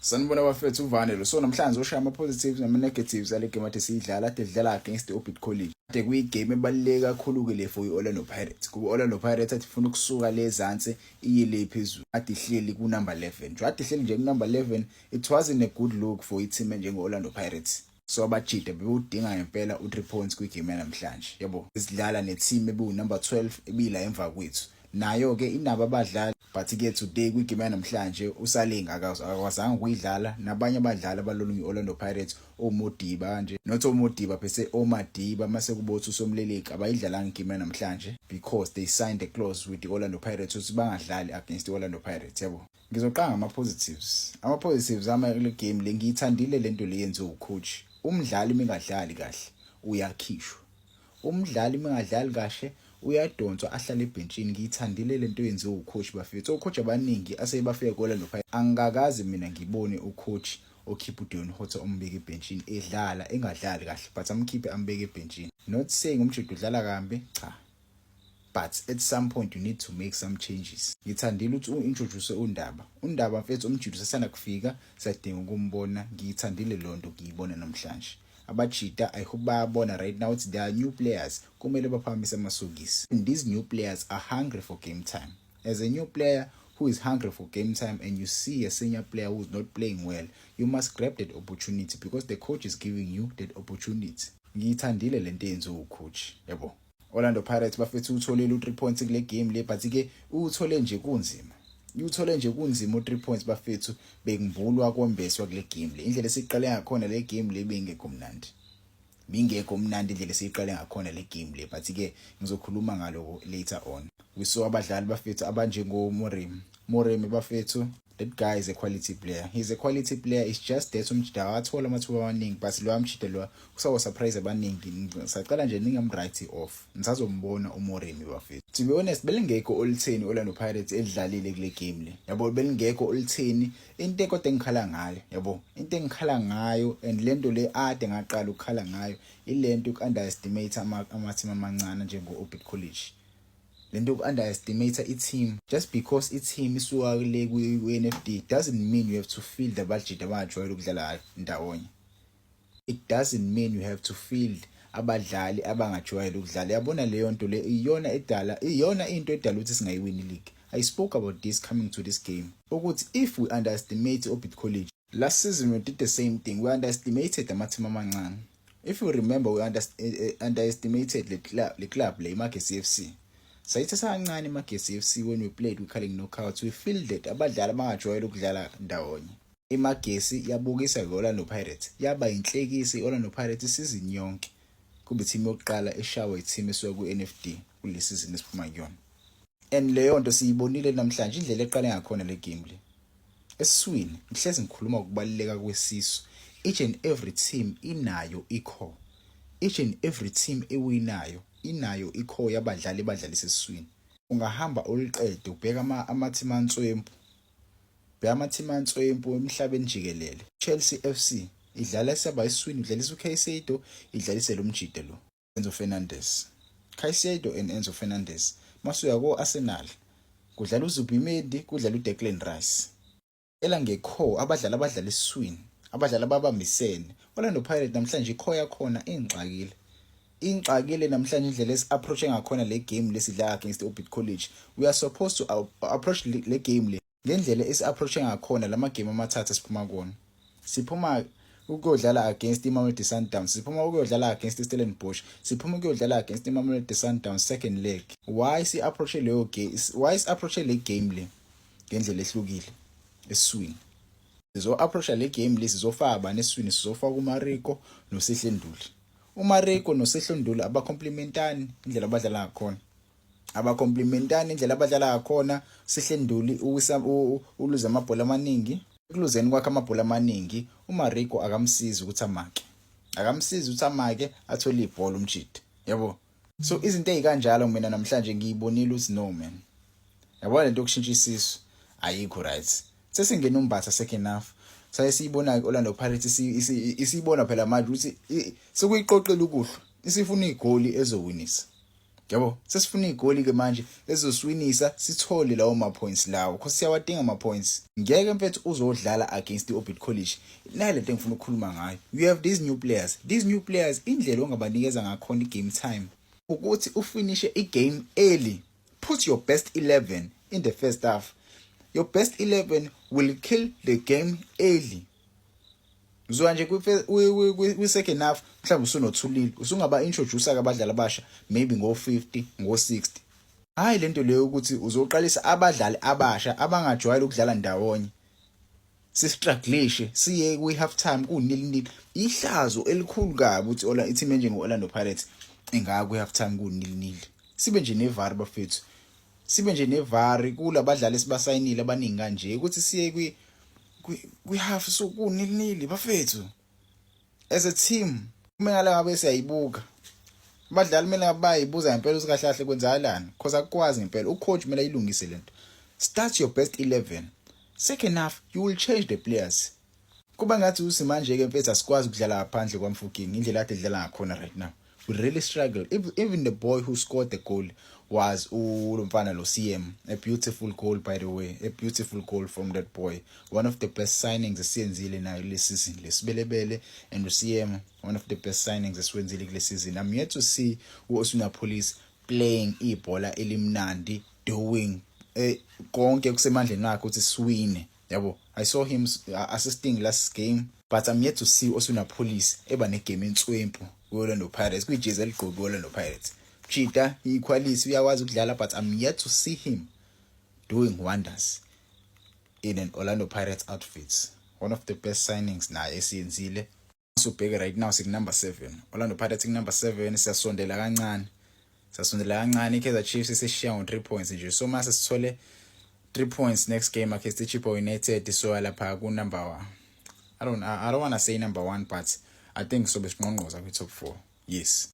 Sanibona bafethu uvane lo so namhlanje ushaya ama positives nama negatives ale game athi siyidlala ade dlala against the Orbit College ade kuyi game ebaluleke kakhulu ke le for iOrlando Pirates kuba Orlando Pirates athi ifuna ukusuka le ezansi iye le phezulu ade ihleli ku number 11 nje ade ihleli nje ku number 11 it wasn't a good look for i team njengo Orlando Pirates so abajida bewudinga ngempela u-3 points kwigame yanamhlanje yabo sidlala ne-team ebiwu-number 12 ebiyila emva kwethu nayo-ke inabo abadlali but ke today kwigame yanamhlanje usaling akakwazanga ukuyidlala nabanye abadlali abalolunye i-orlando pirates omodiba kanje not omodiba phese omadiba mase kubothi usomleleki abayidlalanga igame yanamhlanje because they signed a clause with the-orlando pirates ukuthi bangadlali against i-orlando pirates yabo Ngizoqanga ama positives. Ama positives ama le game le ngiyithandile lento le yenziwe ucoach. Umdlali mingadlali kahle uyakhishwa. Umdlali mingadlali kahle uyadonswa ahlale ebhentshini ngiyithandile lento yenziwe ucoach bafethu. Ocoach abaningi asebafike kola lo phaya. Angikakazi mina ngibone ucoach okhipha uDeon Hotto ombeke ebhentshini edlala engadlali kahle but amkhiphe ambeke ebhentshini. Not saying umjita udlala kambi cha. but at some point you need to make some changes ngithandile ukuthi u-introduce undaba undaba mfethu umjita usasanda kufika siyadinga ukumbona ngiyithandile loo nto ngiyibona namhlanje abajita i hope bayabona right now ukuthi they are new players kumele baphakamise amasokisi and these new players are hungry for game time as a new player who is hungry for game time and you see a senior player who's not playing well you must grab that opportunity because the coach is giving you that opportunity ngiyithandile le nto yenziwa ucoach yabo Orlando Pirates bafethu utholile u3 points kule game le but ke uthole nje kunzima uthole nje kunzima u3 points bafethu bekungibulwa kombeswa kule game le indlela esiqale ngakhona le game le bingekho mnandi bingekho mnandi indlela esiqale ngakhona le game le but ke ngizokhuluma ngaloko later on we saw abadlali bafethu abanjengo Morim Morim bafethu That guy is a quality player. He's a quality player. It's just that umjida awathola amathuba amaningi but lo amjida lo kusawo surprise abaningi. Sacela nje ningam write off. Nisazombona uMoremi bafethu. To be honest belingekho olitheni Orlando Pirates elidlalile kule game le. Yabo belingekho olitheni into kodwa engikhala ngayo. Yabo into engikhala ngayo and lento le ade ngaqala ukukhala ngayo ilento ukunderestimate ama ama team amancane njengo Orbit College. lento yoku underestimate i team just because i team isuka kule ku NFD doesn't mean you have to field abajita abangajwayele ukudlala ndawonye it doesn't mean you have to field abadlali abangajwayele ukudlala yabona leyo nto le iyona edala iyona into edala ukuthi singayiwini league i spoke about this coming to this game ukuthi if we underestimate obit college Last season we did the same thing. We underestimated amathimba amancane. If you remember we under, eh, eh, underestimated le club, le club le iMagesi FC. Sayithatha kancane iMagesi FC when we played we calling knockouts. We fielded abadlali abangajwayele ukudlala ndawonye. iMagesi yabukisa i-Orlando Pirates yaba yinhlekisa i-Orlando Pirates isizini yonke kube ithimu yokuqala eshawa ithimu esuka ku-NFD kule sizini esiphuma kuyona and leyo nto siyibonile namhlanje indlela eqale ngakhona le game le esiswini ngihlezi ngikhuluma ukubaluleka kwesisu each and every team inayo ikho each and every team ewinayo inayo ikho yabadlali badlalisa esiswini ungahamba uliqede ubheka ama-team answempu bheka ama-team answempu emhlabeni jikelele chelsea f c idlala isaba esiswini idlalisa ukaisedo idlalise lo mjide lo Enzo Fernandez. Caicedo and Enzo Fernandez. Masuya ko Arsenal. Kudlala uZubimendi, kudlala uDeclan Rice. Ela ngekho abadlali abadlala iswini, abadlali ababambisene. Orlando Pirates namhlanje ikho yakhona ingxakile. Ingxakile namhlanje indlela esi approach ngakhona le game lesidla against Orbit College. We are supposed to approach le game le ngendlela esi-approach ngakhona la magemu amathathu esiphuma kuwona siphuma ukuyodlala against imamelodi sundowns siphuma ukuyodlala against istellenbosch siphuma ukuyodlala against imamelodi sundowns second leg why si-approache leyo game why si-approache le game le ngendlela ehlukile esiswini sizo-approacha le game le sizofaka bani esiswini sizofaka umariko nosehlenduli umariko nosehlenduli abacomplementani indlela abadlala ngakhona abacomplimentani indlela abadlala ngakhona sihle nduli uluze amabhola amaningi ekuluzeni kwakhe amabhola amaningi umarigo akamsizi ukuthi amake akamsizi ukuthi amake athole ibhola umjidi yabo so izinto ezikanjalo mina namhlanje ngiyibonile ukuthi no man yabona lento yokushintsha isisu ayikho right sesingena umbatha second half saye siyibona Orlando Pirates isiyibona phela manje ukuthi sekuyiqoqela ukuhlwa isifuna igoli ezowinisa yabo sesifuna igoli-ke manje ezoswinisa sithole lawo ma-points lawo cause siyawadinga ama-points ngeke mfethu uzodlala against i-orbit college nayo le nto engifuna ukukhuluma ngayo you have these new players these new players indlela ongabanikeza ngakhona i-game time ukuthi ufinishe i-game early put your best 11 in the first half your best 11 will kill the game early Ngizwa nje kwi-second half mhlawumbe usunothulile usungaba-introduce-ke abadlali abasha maybe ngo-50 ngo-60 hhayi le nto leyo ukuthi uzoqalisa abadlali abasha abangajwayele ukudlala ndawonye sistruglishe siye kwi-half time kunili nili ihlazo elikhulu kabi ukuthi ola i-team enjengo-orlando pirates ingaya kwi-half time kunili nili sibe nje nevari bafethu sibe nje nevari kula badlali esibasayinile abaningi kanje ukuthi siye kwi kwihalf so kunilnili bafethu as a team kumele ngale ngabe siyayibuka abadlali kumele bayibuza ngempela ukuthi kahle kahle kwenzakalani because akukwazi ngempela ucoach kumele ayilungise lento start your best 11 second half you will change the players kuba ngathi usimanje ke mfethu asikwazi ukudlala ngaphandle kwamfukini indlela akade edlala ngakhona right now we really struggle even the boy who scored the goal was ulo mfana lo CM a beautiful goal by the way a beautiful goal from that boy one of the best signings esiyenzile nayo le season lesibelebele and uCM one of the best signings esiwenzile kule season i'm yet to see uOsuna Police playing ibhola elimnandi doing eh, konke kusemandleni wakhe ukuthi siwine yabo i saw him uh, assisting last game but i'm yet to see osuna police eba negame entswempu kwi-orlando pirates kwijezi eligqoke kwi-orlando pirates chita iquality uyakwazi ukudlala but i'm yet to see him doing wonders in an orlando pirates outfits one of the best signings naye esiyenzile masubheke right now siku number 7 Orlando Pirates ku number 7 siyasondela kancane sasondela kancane iKaizer Chiefs isishiya ngo 3 points nje so mase sithole 3 points next game against Chippa United so lapha ku number 1 I don't I don't want to say number 1 but I think so besingqongqoza kwi top 4 yes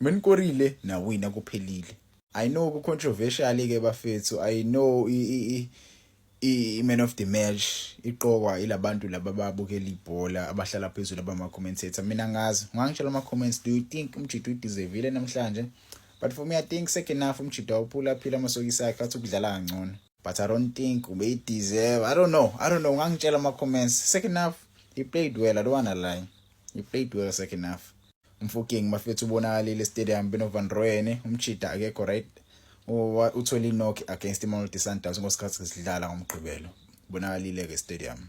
Menikorile nawina kuphelile. I know ku controversial ke bafethu. I know i i i man of the match iqokwa ilabantu laba babukela ibhola abahlala phezulu abama commentator. Mina ngazi ngangitshela ama comments do you think umjito udeserve namhlanje? But for me I think second half umjito awuphula phila amasokisi akhe athi ukudlala kangcono. But I don't think ube deserve. I don't know. I don't know ngangitshela ama comments. Second half he played well. I don't wanna lie. He played well second half. Mfuking mafethu ubonakalile estadium beno Van Rooyen umchida akekho right uthole inock against iMamelodi Sundowns ngosikhathi sidlala ngomgqibelo bonakalile ke stadium